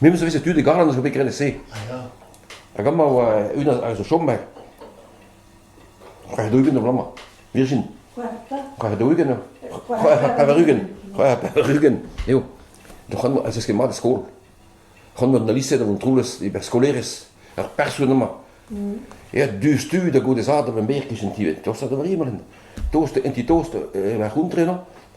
Me 'meus savet tud e Garland zo bet graet e-se. Ah ya. Hag amañ e oa unan a zo chom, c'hwec'h daou-ugent er bloaz-mañ. Virgin. C'hwec'h pevar? C'hwec'h daou-ugent eo. C'hwec'h pevar-ugent. C'hwec'h pevar-ugent eo. Donc, c'han ez eus ket mat e skol. C'han mat na liset an troules e berrskolaerez. Ar person amañ. Ja, diouzhtu da gode zad da ma merk eo gentivet. Tost da Vriemelin. Tost, en ti tost, e ma c'hontre, no?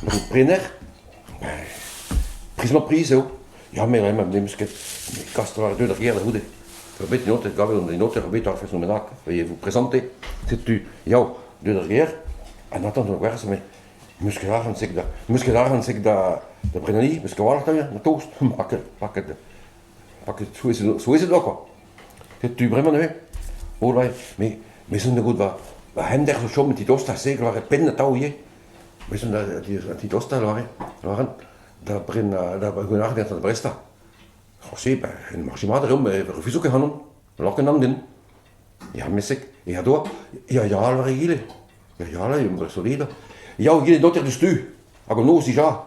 Tro prenner ? Priz-mañ-priz eo. Ya, me vremañ n'em eus ket. Me kast war-du d'ar gêr da c'houde. Eo bet un aoter, kavet on un aoter bet ar faezh bennak, vezañ vous présenter. Setu, yao, deuet d'ar gêr, en attente da gwerzh, me meus ket arc'hant sek da... meus ket arc'hant sek da da brennaliñ, meus ket a-walc'h da tost. Ma ket, pa ket... pa ket souezhet souezhet oa kwa. Setu bremañ neuze. All right, me me 'zo 'da goût va va c'hender zo chom ti dost a segl war e penn atav ivez. Bezan da titostañ lâret, lâret da brenañ, da gaout da brestañ. C'hoazh-se ben en marche mat reomp, me refuso ket ac'hanon, n'hallor ket nann din. Ya mesek, ya doa, ya ya all war egile, ya ya all eo solid, ya egile doter diouzhtu, hag an noz dija.